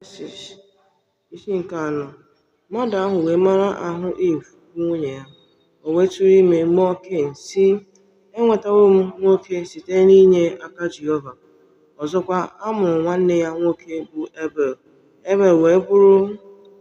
Jenesis isi nke anọ mmadụ ahụ wee mara ahụ Iv bụ nwunye ya, o wee tụrụ ime mụọ Ken, sị Enwetawo m nwoke site n'inye aka Jehova. Ọzọkwa, a mụrụ nwanne ya nwoke bụ Ebel. Ebel wee bụrụ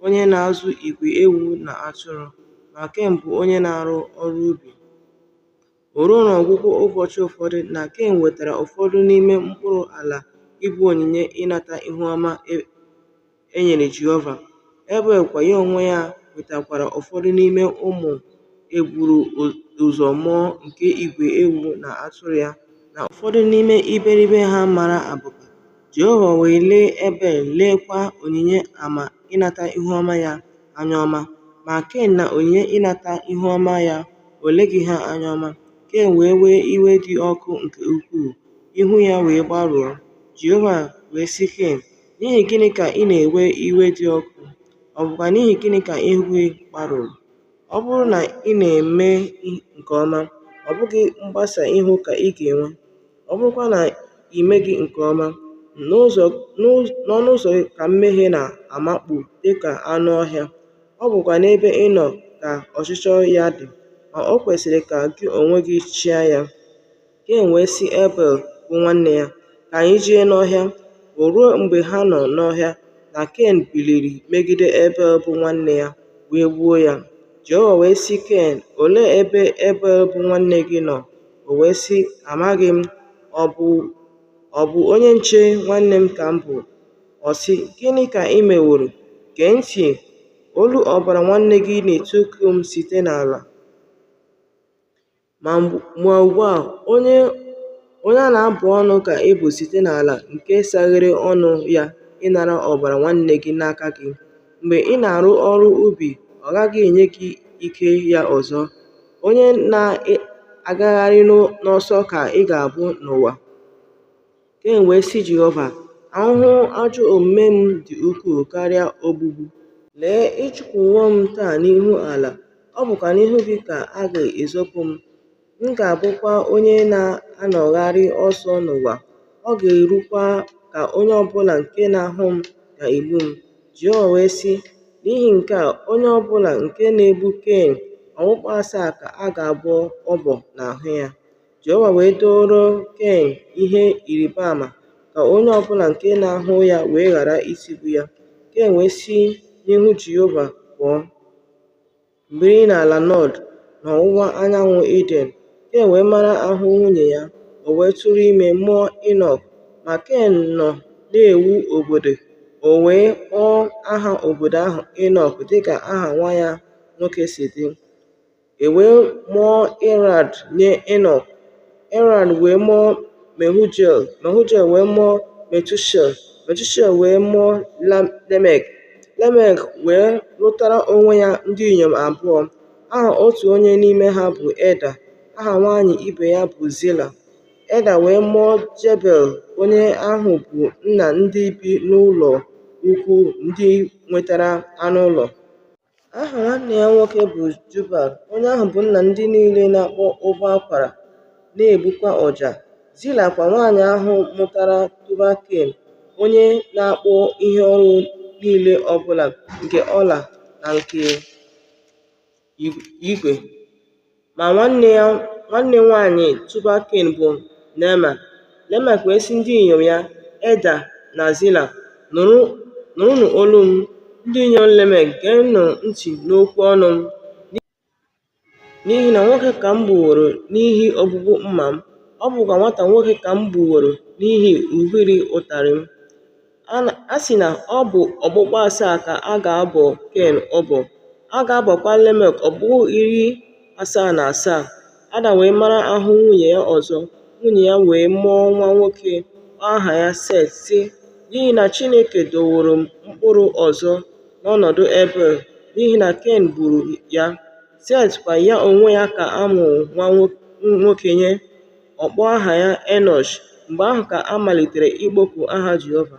onye na-azụ igwe ewu na atụrụ, ma Ken bụ onye na-arụ ọrụ ubi. O ruo n'ọgwụgwụ ụbọchị ụfọdụ na Ken wetara ụfọdụ n'ime mkpụrụ ala ịbụ onyinye ịnata ihu ọma e nyere Jehova, Ebel kwa ya onwe ya wetakwara ụfọdụ n'ime ụmụ e buru ụzọ mụọ nke igwe ewu na atụrụ ya na ụfọdụ n'ime iberibe ha mara abụba. Jehova wee lee Ebel, leekwa onyinye ama ịnata ihu ọma ya anya ọma. Ma Ken na onyinye ịnata ihu ọma ya, o leghị ha anya ọma. Ken wee wee iwe dị ọkụ nke ukwuu, ihu ya wee gbarụọ. Jehova wee sị Ken, N'ihi gịnị ka ị na-ewe iwe dị ọkụ, ọ bụkwa n'ihi gịnị ka ihu gị gbarụrụ? Ọ bụrụ na ị na-eme nke ọma, ọ bụghị mgbasa ihu ka ị ga-enwe. Ọ bụrụkwa na i meghị nke ọma, n'ọnụ ụzọ ka mmehie na-amakpu dị ka anụ ọhịa, ọ bụkwa n'ebe ị nọ ka ọchịchọ ya dị, ma o kwesịrị ka gị onwe gị chịa ya. Ken wee sị Ebel, bụ nwanne ya, Ka anyị jee n'ọhịa. O ruo, mgbe ha nọ n'ọhịa, na Ken biliri megide Ebel, bụ nwanne ya, wee gbuo ya. Jehova wee sị Ken, Olee ebe Ebel, bụ nwanne gị nọ? O wee sị, Amaghị m. Ọ bụ onye nche nwanne m ka m bụ. Ọ sị, Gịnị ka i meworo? Gee ntị! Olu ọbara nwanne gị na-etiku m site n'ala. Ma ugbu a, ugbu a, onye a na-abụ ọnụ ka ị bụ site n'ala nke saghere ọnụ ya ịnara ọbara nwanne gị n'aka gị. Mgbe ị na-arụ ọrụ ubi, ọ gaghị enye gị ike ya ọzọ. Onye na-agagharị n'ọsọ ka ị ga-abụ n'ụwa. Ken wee sị Jehova, Ahụhụ ajọ omume m dị ukwuu karịa ogbugbu. Lee, ị chụpụwo m taa n'ihu ala, ọ bụkwa n'ihu gị ka a ga-ezopụ m. M ga-abụkwa onye na-anọgharị ọsọ n'ụwa, ọ ga-erukwa ka onye ọ bụla nke na-ahụ m ga-egbu m. Jehova wee sị, N'ihi nke a, onye ọ bụla nke na-egbu Ken, okpukpu asaa ka a ga-abọ ọbọ n'ahụ ya. Jehova wee dooro Ken ihe ịrịba ama ka onye ọ bụla nke na-ahụ ya wee ghara itigbu ya. Ken wee si n'ihu Jehova pụọ, biri n'ala Nọd n'ọwụwa anyanwụ Iden. Ken wee mara ahụ nwunye ya, o wee tụrụ ime, mụọ Inọk. Ma Ken nọ na-ewu obodo, o wee kpọọ aha obodo ahụ Inọk dịka aha nwa ya nwoke si dị. E wee mụọ Irad nye Inọk, Irad wee mụọ Mehujael, Mehujael wee mụọ Metushael, Metushael wee mụọ Lemek. Lemek wee lụtara onwe ya ndị inyom abụọ, aha otu onye n'ime ha bụ Eda, aha nwanyị ibe ya bụ Zila. Eda wee mụọ Jebel, onye ahụ bụ nna ndị bi n'ụlọ ukwu ndị nwetara anụ ụlọ. Aha nwanne ya nwoke bụ Jubal, onye ahụ bụ nna ndị niile na-akpọ ụbọ akwara, na-egbukwa ọja. Zila kwa, nwanyị ahụ mụtara Tubal Ken, onye na-akpụ ihe ọrụ niile ọ bụla nke ọla na nke igwe. Ma nwanne nwanyị Tubal Ken bụ Naama. Lemek wee sị ndị inyom ya, Eda na Zila, Nụrụnụ olu m, ndị inyom Lemek, geenụ ntị n'okwu ọnụ m, n'ihi na nwoke ka m gbuworo n'ihi ogbugbu mma m, ọ bụkwa nwata nwoke ka m gbuworo n'ihi ubiri ụtarị m. A sị na ọ bụ okpukpu asaa ka a ga-abọ Ken ọbọ, a ga-abọkwa Lemek okpukpu iri asaa na asaa. Adam wee mara ahụ nwunye ya ọzọ, nwunye ya wee mụọ nwa nwoke, kpọọ aha ya Set, sị, “N'ihi na Chineke doworo m mkpụrụ ọzọ n'ọnọdụ Ebel, n'ihi na Ken gburu ya.” Set kwa, ya onwe ya ka a mụrụ nwa nwoke nye. ọ kpọọ aha ya Enọsh, mgbe ahụ ka a malitere ịkpọku aha Jehova.